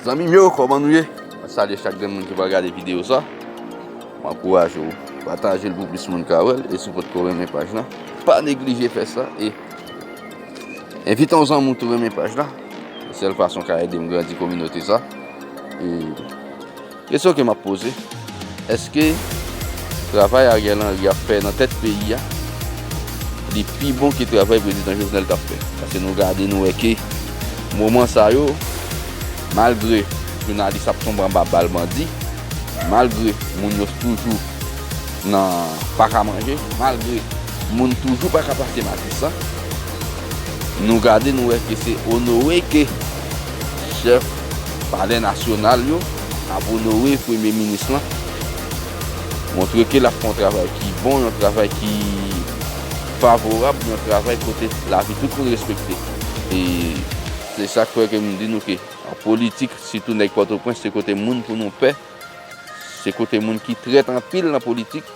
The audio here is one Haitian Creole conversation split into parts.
Zanmim yo koman nou ye mwen salye chak grenn moun ki pral gade video sa m ankouraje w pataje l pou plis moun ka wèl e si w potko renmen paj la pa neglije fè sa e envite yon zanmi w tou renmen paj la se sèl fason w ka edem grandi kominote sa e. Kesyon ke map poze, eske travay Ariel Henry ap fè nan tèt peyi a, li pi bon ke travay Prezidan Jovenel tap fè? Paske nou gade nou wè ke moman sa yo, malgre jounalis ap tonbe anba bal bandi, malgre moun yo toujou nan pa ka manje, malgre moun toujou pa ka pase matisan, nou gade nou wè ke se onore ke. Chèf palè nasyonal yo ap onore premye minis lan, montre ke l ap fè yon travay ki bon, yon travay ki favorab, yon travay kote lavi tout moun respekte. E se sa k fè ke m di nou ke an politik, sitou nèg Pòtoprens, se kote moun pou nou pè, se kote moun ki trèt anpil nan politik.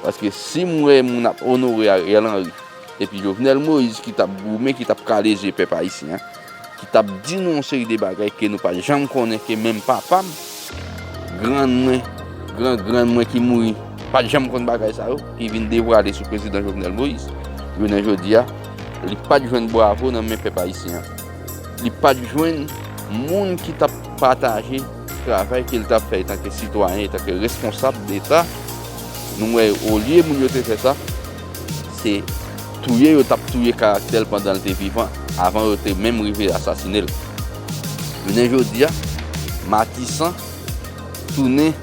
Paske si m wè moun ap onore Ariel Henry epi Jovenel Moïse ki t ap goumen, ki t ap kale je pèp ayisyen an, ki tap di nou yon seri de bagay ke nou pat janm konnen ke menm papa m, grann mwen, gran grann mwen ki mouri pat janm konn bagay sa yo ki vin devwale sou prezidan Jovenel Moïse jounen jodi a li pat jwenn bwavo nan men pèp ayisyen an li pat jwenn moun ki tap pataje travay ke li tap fè etanke sitwayen etanke responsab deta nou wè olye moun yo te fè sa. Se touye yo t ap touye karaktè l pandan l te vivan, avan yo te menm rive asasine l. Jounen jodi a, Matisan tounen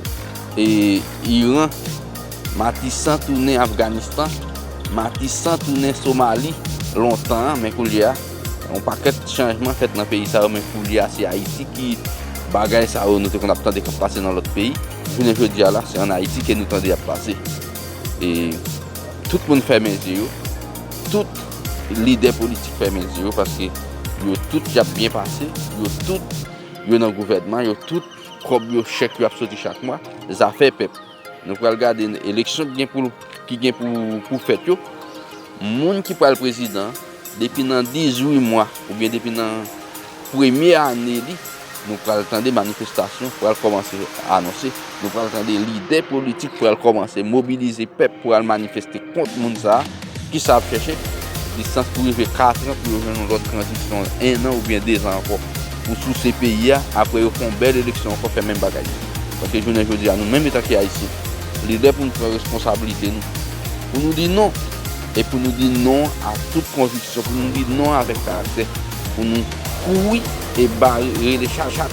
Iran, Matisan tounen Afganistan, Matisan tounen Somali lontan an, men koulye a, yon pakèt chanjman fèt nan peyi sa yo, men koulye a se Ayiti ki bagay sa yo nou te konn ap tande k ap pase nan lòt peyi, jounen jodi a la, se ann Ayiti ke nou tande y ap pase. E tout moun fèmen zye yo, tout lidè politik fèmen zye yo paske yo tout y ap byen pase, yo tout yo nan gouvènman, yo tout kòb yo, chèk yo ap soti chak mwa, zafè pèp. Nou pral gade eleksyon ki gen pou fèt yo, moun ki pral prezidan. Depi nan 18 mwa oubyen depi nan premye ane li, nou pral tande manifestasyon pral kòmanse anonse, nou pral tande lidè politik pral kòmanse mobilize pèp pou al manifeste kont moun sa a. Kisa y ap chèche? Lisans pou rive 4 an pou yo jwenn yon lòt tranzisyon 1 an oubyen 2 zan ankò pou souse peyi a. Apre yo fè yon bèl eleksyon ankò fè menm bagay. Paske jounen jodi a nou menm etanke Ayisyen, li lè pou nou pran responsablite nou, pou nou di non! e pou nou di non a tout konviksyon, pou nou di non avèk karaktè, pou nou kouri e bare rele chat chat.